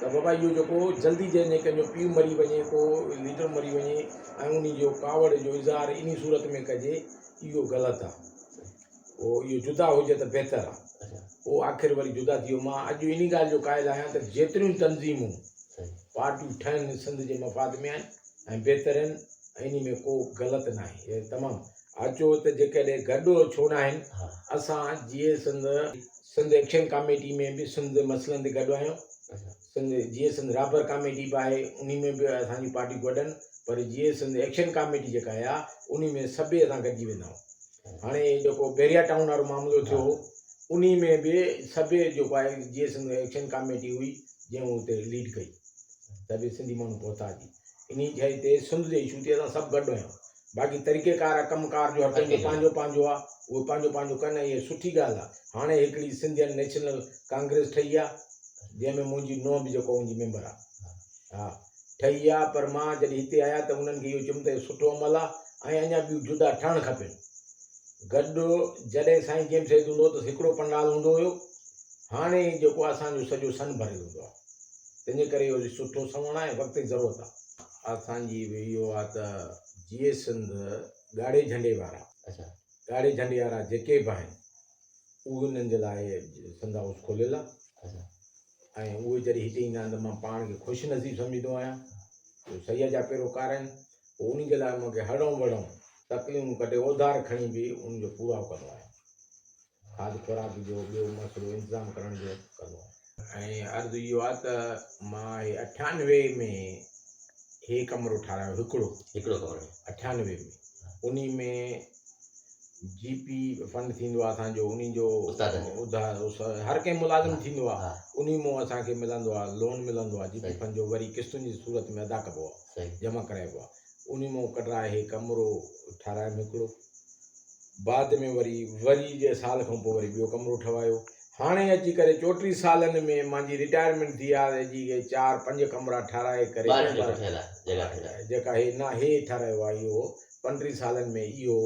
ته بابا اهو جيڪو جلدي جنهن ڪنهن جو پيء مري وڃي، ڪو ليڊر مري وڃي ۽ انهي جو ڪاوڙ جو اظهار انهي صورت ۾ ڪجي اهو غلط آ. پوء اهو جدا هجي ته بهتر آ. پوء آخر وري جدا ٿي ويو. مان اڄ انهي ڳالهه جو قائل آهيان ته جيتريون تنظيمون، پارٽيون ٺهن سنڌ جي مفاد ۾ آهن ۽ بهتر آهن ۽ انهي ۾ ڪو غلط ناهي. تمام اچو ته جيڪڏهن گڏ ڇو ناهن اسان جيئي سنڌ. سنڌ ايڪشن ڪاميٽي ۾ به سنڌ مسئلن تي گڏ آهيون سنڌ جيئن سنڌ رابر ڪاميٽي به آهي انهي ۾ به اسان جون پارٽيون گڏن پر جيئن سنڌ ايڪشن ڪاميٽي جيڪا آهي انهي ۾ سڀئي اسان گڏجي ويندا آهيون هاڻي جيڪو بحريا ٽائون وارو معاملو ٿيو هو انهي ۾ به سڀئي جيڪو آهي جيئن سنڌ ايڪشن ڪاميٽي هئي جنهن اتي ليڊ ڪئي سڀئي سنڌي ماڻهو پهتا جي انهي شئي تي سنڌ جي اشو تي اسان سڀ گڏ آهيون باقي طريقي ڪار ۽ ڪم ڪار جو هر ڪنهن جو پنهنجو پنهنجو آ اهي پنهنجو پنهنجو ڪن ۽ اها سٺي ڳالهه آ هاڻي هڪڙي سنڌين نيشنل ڪانگريس ٺهي آ جنهن ۾ منهنجي نونهن به جيڪو ان جي ميمبر آ ها ٺهي آ پر مان جڏهن هتي آيا ته انهن کي اهو چيم ته سٺو عمل آ ۽ اڃا ٻيون جدا ٺهڻ کپين گڏ جڏهن سائين جيمس سيد هوندو هو ته هڪڙو پنڊال هوندو هيو هاڻي جيڪو اسان جو سڄو سن ڀريل هوندو آ. تنهنجي ڪري اهو جي سٺو سنوڻ آهي وقت جي ضرورت آ. اسان جي به اهو آ ته جيئي سنڌ ڳاڙهي جهنڊي وارا. اچا ڳاڙهي جهنڊي وارا جيڪي به آهن انهن جي لاء سنڌ هائوس کوليل آ. اچا ۽ اهي جڏهن هتي ايندا آهن ته مان پاڻ کي خوش نصيب سمجهندو آهيان جو سيد جا پيروڪار آهن پوء انهن جي لاء مون کي هڙئون وڙئون تڪليون ڪڍي اوڌار کڻي به انهن جو پورائو ڪندو آهيان. کاڌ خوراڪ جو ٻيو مسئلو انتظام ڪرڻ جو ڪندو آهيان. ۽ عرض اهو آهي ته مان هي اٺيانوي ۾ هي ڪمرو ٺارايو هڪڙو هڪڙو ڪمرو اٺيانوي ۾ انهي ۾ جي پي فنڊ ٿيندو آهي اسان جو انهي جو استادن جو ادار اس هر ڪنهن ملازم ٿيندو آهي ها انهي مون اسان کي ملندو آهي لون ملندو آهي جي پي فنڊ جو وري قسطن جي صورت ۾ ادا ڪبو آهي صحيح جمع ڪرائبو آهي انهي مون ڪڍرائي هي ڪمرو ٺارايم هڪڙو بعد ۾ وري وري جي سال کان پوء وري ٻيو ڪمرو ٺهوايو. هاڻي اچي ڪري چوٽيهه سالن ۾ مانجي رٽائرمينٽ ٿي آهي ته جي هي چار پنج ڪمرا ٺهرائي ڪري ٻاهر ڪمرا نڪرڻ ٺهيل آهي جڳهه ٺهيل آهي. جيڪا هي نه هي ٺهرايو آهي اهو پنڊرهن سالن ۾ اهو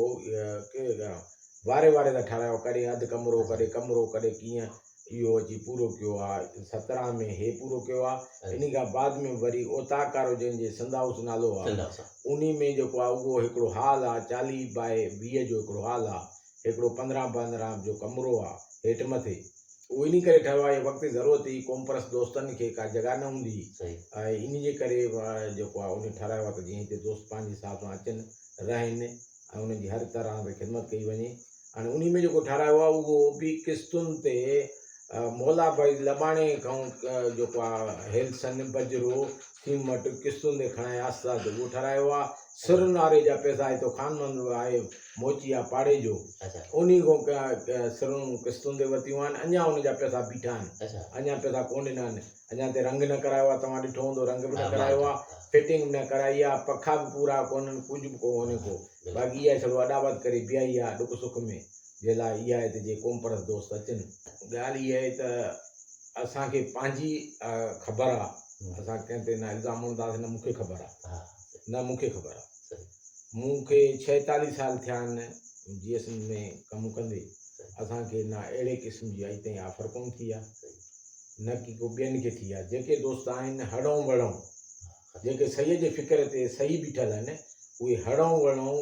واري واري سان ٺهرايو ڪڏهن اڌ ڪمرو ڪڏهن ڪمرو ڪڏهن ڪيئن اهو اچي پورو ڪيو آ. سترهن ۾ هي پورو ڪيو آ. انهي کان بعد ۾ وري اوطاق وارو جنهن جي سنڌ هائوس نالو آ. انهي ۾ جيڪو آ اهو هڪڙو هال آ. چاليهه باء ويهه جو هڪڙو هال آ. هڪڙو پندرهن پندرهن جو ڪمرو آ. هيٺ مٿي. اهو انهي ڪري ٺهيو آ. وقت ضرورت هئي. قومپرست دوستن کي ڪا جڳهه نه هوندي هئي. انهي جي ڪري جيڪو آ انهي ٺهرايو آ ته جيئن هتي دوست پنهنجي حساب سان اچن رهن. ۽ انهن جي هر طرح تي خدمت ڪئي وڃي ۽ انهي ۾ جيڪو ٺهرايو آهي اهو به قسطن تي مولا ڀائي لٻاڻي کان جيڪو آهي هيلسن بجرو سيمٽ قسطن تي کڻائي آستا تي اهو ٺهرايو آهي سر ناري جا پئسا هتو خان محمد آهي موچي آهي پاڙي جو انهي کان سرون قسطن تي ورتيون آهن اڃا ان جا پئسا بيٺا آهن اڃا پئسا ڪونه ڏنا آهن اڃا تي رنگ نه ڪرايو آ توهان ڏٺو هوندو رنگ به نه ڪرايو آ فٽنگ به نه ڪرائي آ پکا به پورا ڪونهن ڪجهه به ڪونهي ڪو باقي اها ڇڙو اڏاوت ڪري بيهائي آ ڏک سک ۾ جي لاء اها آهي ته جي قومپرست دوست اچن ڳالهه اها آهي ته اسان کي پنهنجي خبر آ اسان ڪنهن تي نه الزام اڻنداسين نه مونکي خبر آ نه مونکي خبر آ مون کي ڇهيتاليهه سال ٿيا آهن جي ايس ۾ ڪم ڪندي اسان کي نه اهڙي قسم جي اڄ تائين آفر ڪونه ٿي آ نه ڪي ڪو ٻين کي ٿي آ. جيڪي دوست آهن هڙئون وڙئون، جيڪي سهي جي فڪر تي سهي بيٺل آهن، اهي هڙئون وڙئون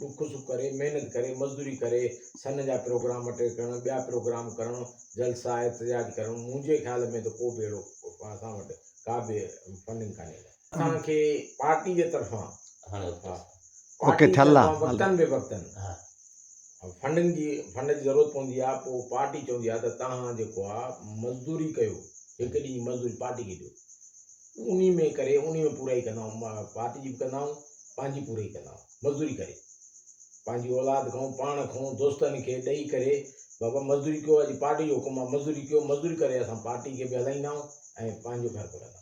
ڏک سک ڪري، محنت ڪري، مزدوري ڪري، سن جا پروگرام اٽينڊ ڪرڻ، ٻيا پروگرام ڪرڻ، جلسا احتجاج ڪرڻ، منهنجي خيال ۾ ته ڪو به اهڙو اسان وٽ ڪا به فنڊنگ ڪانهي. اسان کي پارٽي جي طرفان پارٽي جي طرفان وقتن بي وقتن فنڊنگ جي فنڊ جي ضرورت پوندي آ پو پارٽي چوندي آ ته تهان جيڪو آ مزدوري ڪيو هڪ ڏينهن جي مزدوري پارٽي کي ڏيو انهي ۾ ڪري انهي ۾ پورائي ڪندا آهيون پارٽي جي به ڪندا آهيون پنهنجي پورائي ڪندا آهيون مزدوري ڪري پنهنجي اولاد کائون پاڻ کائون دوستن کي ڏئي ڪري بابا مزدوري ڪيو اڄ پارٽي جو حڪم آ مزدوري ڪيو مزدوري ڪري اسان پارٽي کي به هلائيندا آهيون ۽ پنهنجو گهر به هلائيندا آهيون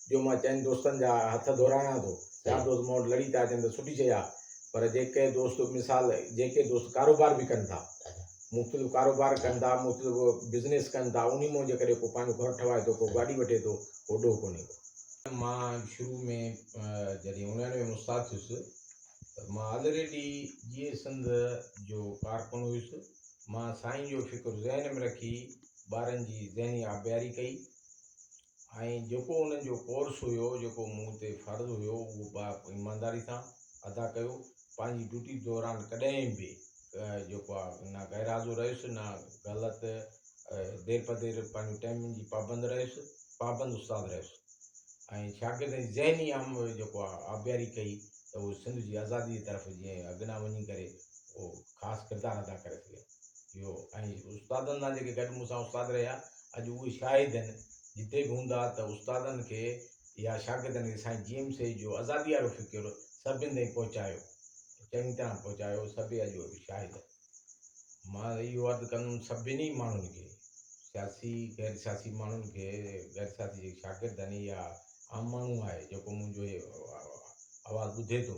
جو مان چئن دوستن جا هٿ ڌورايان ٿو. چار دوست مون وٽ لڙي ٿا اچن ته سٺي شيء آهي، پر جيڪي دوست مثال جيڪي دوست ڪاروبار به ڪن ٿا، مختلف ڪاروبار ڪن ٿا، مختلف بزنيس ڪن ٿا، انهي مون جيڪڏهن ڪو پنهنجو گهر ٺهوائي ٿو، ڪو گاڏي وٺي ٿو، اهو ڏوهه ڪونهي ڪو. مان شروع ۾ جڏهن اڻياڻوي ۾ استاد ٿيس ته مان آلريڊي جيئي سنڌ جو ڪارڪن هيس. مان سائين جو فڪر ذهن ۾ رکي ٻارن جي ذهني آبياري ڪئي. ۽ جيڪو انهن جو ڪورس هيو، جيڪو مون تي فرض هيو، اهو با ايمانداري سان ادا ڪيو. پنهنجي ڊيوٽي دوران ڪڏهن به جيڪو آ نه غير حاضر رهيس، نه غلط دير پر دير پنهنجو ٽائيمنگ جي پابند رهيس، پابند استاد رهيس ۽ شاگردن جي ذهني آ جيڪو آ آبياري ڪئي ته اهو سنڌ جي آزادي جي طرف جيئن اڳنا وڃي ڪري اهو خاص ڪردار ادا ڪري سگهن. اهو ۽ استادن سان جيڪي گڏ مون سان استاد رهيا اڄ اهي شاهد آهن جتي به هوندا ته استادن کي يا شاگردن کي سائين جي ايم سيد جو آزادي وارو فڪر سڀني تائين پهچايو چڱي طرح پهچايو سڀ اڄ اهي شاهد آهن مان اهو عرض ڪندم سڀني ماڻهن کي سياسي غير سياسي ماڻهن کي غير سياسي جيڪي شاگرد آهن يا عام ماڻهو آهي جيڪو منهنجو آواز ٻڌي ٿو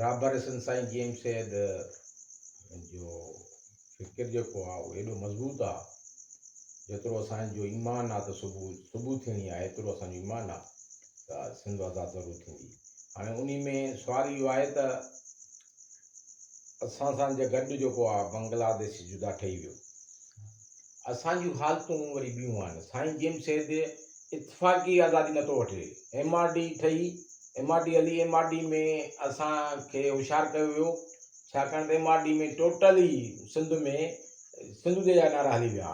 رابر حسن سائين جي ايم سيد جو فڪر جيڪو آ اهو ايڏو مضبوط آ جيترو اسان جو ايمان آ ته صبح صبح ٿيڻي آ ايترو اسان جو ايمان آ ته سنڌ آزاد ضرور ٿيندي هاڻي انهي ۾ سوال اهو آهي ته اسان سان جي گڏ جيڪو آ بنگلاديش جدا ٺهي ويو اسان جون حالتون وري ٻيون آهن. سائين جيمس سيد اتفاقي آزادي نٿو وٺي. ايم آر ڊي ٺهي، ايم آر ڊي هلي، ايم آر ڊي ۾ اسان کي هوشيار ڪيو ويو، ڇاڪاڻ ته ايم آر ڊي ۾ ٽوٽل ئي سنڌ ۾ سنڌو دي جا نعرا هلي ويا.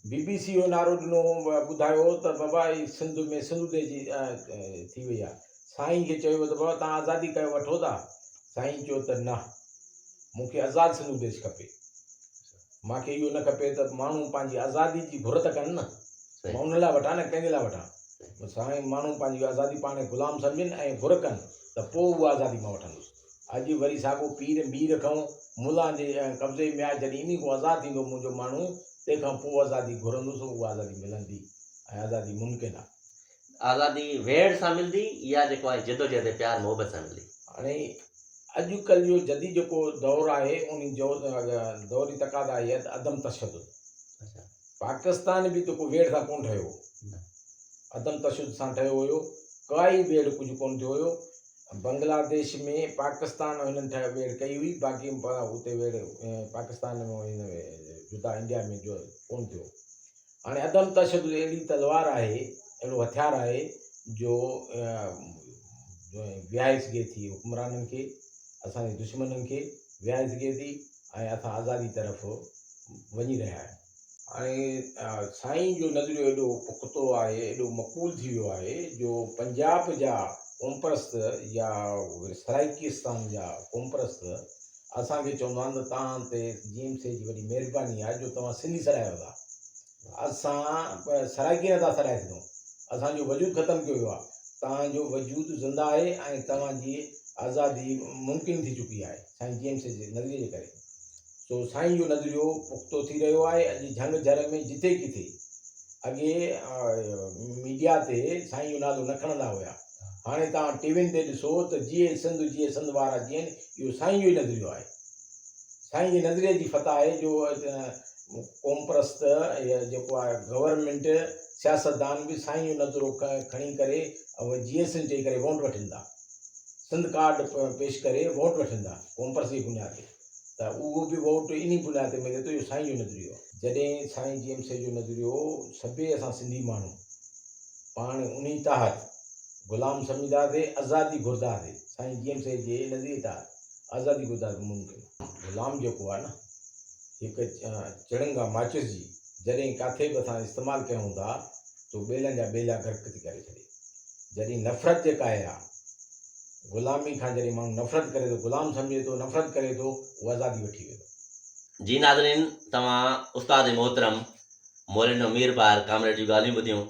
بي بي سي اهو نعرو ڏنو، ٻڌايو ته بابا هي سنڌ ۾ سنڌو دي جي ٿي وئي آهي. سائين کي چيو ويو ته بابا توهان آزادي ڪيو وٺو ٿا؟ سائين چيو ته نه، مون کي آزاد سنڌو ديش کپي. مان کي اهو نه کپي ته ماڻهو پنهنجي آزادي جي گهر ته ڪن نه، مان ان لاء وٺان نه ڪنهن جي لاء وٺان. سائين ماڻهو پنهنجي آزادي پاڻ کي غلام سمجهن ۽ گهر ڪن ته پوء اها آزادي مان وٺندس. اڄ وري ساڳو پير مير کئون ملان جي قبضي ۾ آهي جڏهن انهي کان آزاد ٿيندو منهنجو ماڻهو تنهن کان پوء آزادي گهرندس اها آزادي ملندي ۽ آزادي ممڪن آهي. آزادي ويڙهه سان ملدي يا جيڪو آهي جدوجهد ۽ پيار محبت سان ملدي. هاڻي اڄ ڪلهه جو جديد جيڪو دور آهي ان دور جي تقاضا اهي ته عدم تشدد پاڪستان به جيڪو ويڙهه سان ڪونه ٺهيو عدم تشدد سان ٺهيو هيو ڪائي ويڙهه ڪجهه ڪونه ٿيو هيو بنگلاديش ۾ پاڪستان هنن ٺهي ويڙهه ڪئي هئي باقي اتي ويڙهه پاڪستان ۾ جدا انڊيا ۾ جو ڪونه ٿيو هاڻي عدم تشدد اهڙي تلوار آهي، اهڙو هٿيار آهي جو ويهائي سگهي ٿي حڪمرانن کي، اسان جي دشمنن کي ويهائي سگهي ٿي ۽ اسان آزادي طرف وڃي رهيا آهيون. هاڻي سائين جو نظريو ايڏو پختو آهي، ايڏو مقبول ٿي ويو آهي جو پنجاب جا قومپرست يا سرائيڪستان جا قومپرست اسان کي چوندو آھن ته توھان تي جيم سي جي وڏي مھرباني آھي جو توھان سنڌي سڏايو ٿا اسان سرائڪي نه ٿا سڏائي سگھون اسان جو وجود ختم ڪيو ويو آھي توھان جو وجود زنده آھي ۽ توھان جي آزادي ممڪن ٿي چڪي آھي سائين جيم سي جي نظريي جي ڪري سو سائين جو نظريو پختو ٿي رھيو آھي اڄ جھنگ جھر ۾ جتي ڪٿي اڳي ميڊيا تي سائين جو نالو نه کڻندا ھيا هاڻي توهان ٽي وين تي ڏسو ته جيئي سنڌ جيئي سنڌ وارا جيئن اهو سائين جو ئي نظريو آهي سائين جي نظريي جي فتح آهي جو قوم پرست يا جيڪو آهي گورنمينٽ سياستدان به سائين جو نظرو کڻي ڪري ۽ جيئي سنڌ چئي ڪري ووٽ وٺن ٿا سنڌ ڪارڊ پيش ڪري ووٽ وٺن ٿا قوم پرست جي بنياد تي ته اهو به ووٽ انهي بنياد تي ملي ٿو اهو سائين جو نظريو آهي. جڏهن سائين جي ايم سي جو نظريو سڀيئي اسان سنڌي ماڻهو پاڻ انهي تحت غلام سمجهداسي ازادي گهرداسي سائين جي ايم سي جي نظريي تحت ازادي گهرداسي ممڪن غلام جيڪو آهي نه هڪ چڻنگا ماچس جي جڏهن ڪاٿي به اسان استعمال ڪيون ٿا تو ٻيلن جا ٻيلا غرق ٿي ڪري ڇڏي جڏهن نفرت جيڪا آهي غلامي کان جڏهن ماڻهو نفرت ڪري ٿو، غلام سمجهي ٿو، نفرت ڪري ٿو، هو آزادي وٺي ويندو. جي ناظرين توهان استاد محترم مولينڊو ميرپار ڪامريڊ جون ڳالهيون ٻڌيون.